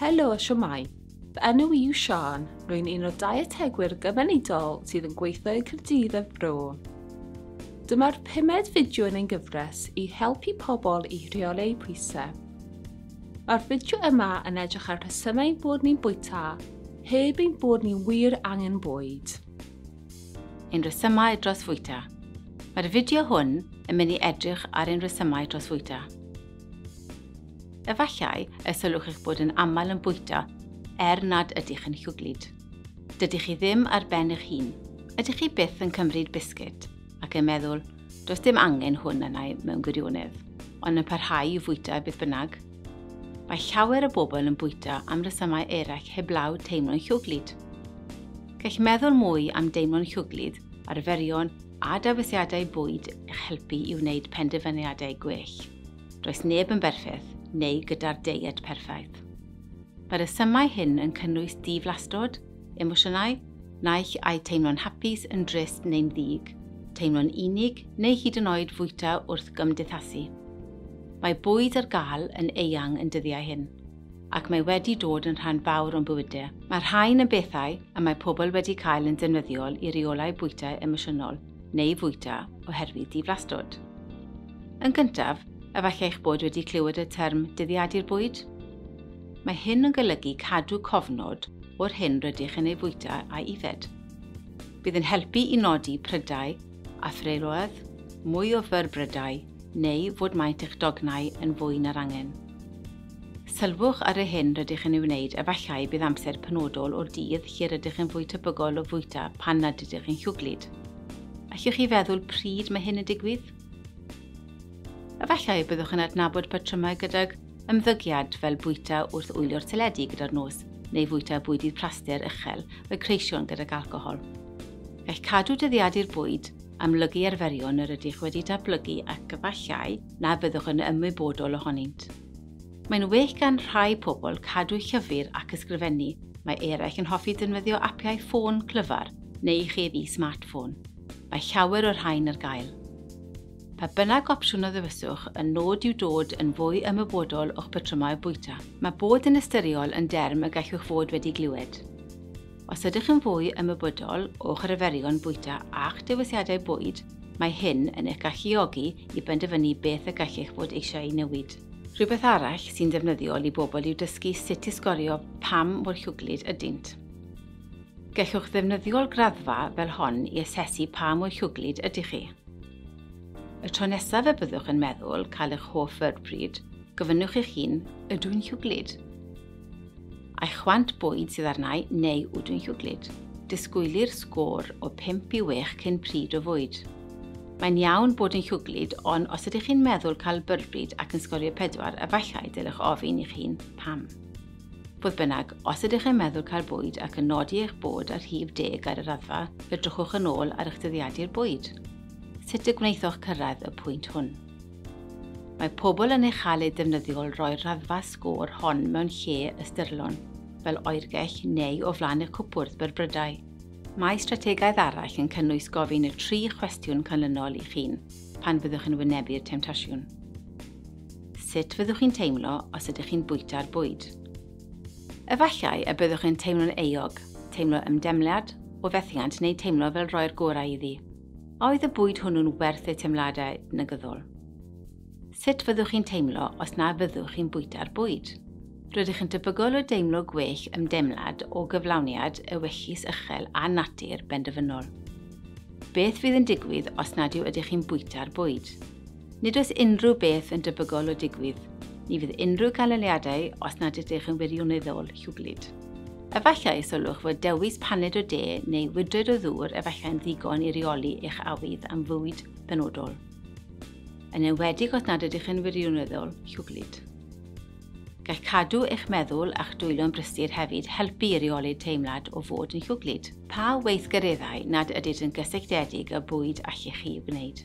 Helo, siwmai. Fy enw i yw Sian, rwy'n un o dietegwyr gymunedol sydd yn gweithio i Cyrdydd a Fro. Dyma'r pumed fideo yn ein gyfres i helpu pobl i rheoli eu pwysau. Mae'r fideo yma yn edrych ar rhesymau bod ni'n bwyta heb ein bod ni wir angen bwyd. Ein rhesymau dros fwyta. Mae'r fideo hwn yn mynd i edrych ar ein rhesymau dros fwyta. Efallai y sylwch eich bod yn aml yn bwyta er nad ydych yn llwglyd. Dydych chi ddim ar ben eich hun. Ydych chi byth yn cymryd bisgit ac yn meddwl, does dim angen hwn arnau mewn gwirionedd, ond yn parhau i fwyta beth bynnag? Mae llawer o bobl yn bwyta am resymau eraill heblaw teimlo'n llwglyd. Gall meddwl mwy am deimlo'n llwglyd, arferion a dewisiadau bwyd eich helpu i wneud penderfyniadau gwell. Does neb yn berffaith neu gyda'r deiet perffaith. Mae rhesymau hyn yn cynnwys diflastod, emosiynau, naill ai teimlo'n hapus, yn drist neu'n ddig, teimlo'n unig neu hyd yn oed fwyta wrth gymdeithasu. Mae bwyd ar gael yn eang yn dyddiau hyn. ac mae wedi dod yn rhan fawr o'n bywyde. Mae'r rhain yn bethau y mae pobl wedi cael yn defnyddiol i reolai bwytai emosiynol neu fwyta oherwydd diflastod. Yn gyntaf, efallai eich bod wedi clywed y term dyddiadu'r bwyd? Mae hyn yn golygu cadw cofnod o'r hyn rydych yn ei fwyta a'i yfed. Bydd yn helpu i nodi prydau a threuliodd mwy o fyrbrydau neu fod maint eich dognau yn fwy na'r angen. Sylwch ar yr hyn rydych yn ei wneud, efallai bydd amser penodol o'r dydd lle rydych yn fwy tebygol o fwyta pan nad ydych chi'n llwglyd. Allwch chi feddwl pryd mae hyn yn digwydd? Efallai y byddwch yn adnabod patrymau gydag ymddygiad fel bwyta wrth wylio'r teledu gyda'r nos neu fwyta bwydydd plaster uchel y creision gydag alcohol. Gall cadw dyddiadu'r bwyd amlygu arferion yr ydych wedi datblygu ac efallai na fyddwch yn ymwybodol ohonynt. Mae'n well gan rhai pobl cadw llyfr ac ysgrifennu, mae eraill yn hoffi defnyddio apiau ffôn clyfar neu i chi ddi smartffôn. Mae llawer o'r rhain ar gael. Pa bynnag opsiwn a ddewiswch, y nod yw dod yn fwy ymwybodol o'ch patrymau bwyta. Mae bod yn ystyriol yn derm y gallwch fod wedi glywed. Os ydych yn fwy ymwybodol o'ch arferion bwyta a'ch dewisiadau bwyd, mae hyn yn eich galluogi i benderfynu beth y gallech fod eisiau ei newid. Rhywbeth arall sy'n ddefnyddiol i bobl yw dysgu sut i sgorio pam mor llwglyd ydynt. Gellwch ddefnyddio'r graddfa fel hon i asesu pa mor llwglyd ydych chi. Y tro nesaf y byddwch yn meddwl cael eich hoff fyrbryd, gofynnwch eich hun, 'Ydw i'n llwglyd? A'i chwant bwyd sydd arnau neu wdw'n llwglyd. Disgwylir sgôr o 5 i 6 cyn pryd o fwyd. Mae'n iawn bod yn llwglyd, ond os ydych chi'n meddwl cael byrbryd ac yn sgorio 4, efallai dylech ofyn i'ch hun pam. Fodd bynnag, os ydych yn meddwl cael bwyd ac yn nodi eich bod ar rhif deg ar y raddfa, edrychwch yn ôl ar eich dyddiadur bwyd. Sut y gwnaethoch cyrraedd y pwynt hwn? Mae pobl yn ei chael ei defnyddio'l roi'r raddfa sgôr hon mewn lle ystyrlon, fel oergell neu o flaen y cwpwrdd byrbrydau. Mae strategaeth arall yn cynnwys gofyn y tri chwestiwn canlynol i'ch hun pan fyddwch yn wynebu'r temtasiwn. Sut fyddwch chi'n teimlo os ydych chi'n bwyta'r bwyd? Efallai y byddwch yn teimlo'n euog, teimlo ymdeimlad o fethiant neu teimlo fel rhoi'r gorau iddi. A oedd y bwyd hwnnw'n werth eu teimladau negyddol? Sut fyddwch chi'n teimlo os na fyddwch chi'n bwyta'r bwyd? Rydych yn debygol o deimlo gwell ymdeimlad o gyflawniad, ewyllys uchel a natur benderfynol. Beth fydd yn digwydd os nad yw ydych chi'n bwyta'r bwyd? Nid oes unrhyw beth yn debygol o digwydd. Ni fydd unrhyw ganlyniadau os nad ydych yn wirioneddol llwglyd. Efallai y sylwch fod dewis paned o de neu wydred o ddŵr efallai'n ddigon i reoli eich awydd am fwyd benodol, yn enwedig os nad ydych yn wirioneddol llwglyd. Gall cadw eich meddwl a'ch dwylo'n brysur hefyd helpu i reoli'r teimlad o fod yn llwglyd. Pa weithgareddau nad ydynt yn gysylltiedig â bwyd allech chi wneud?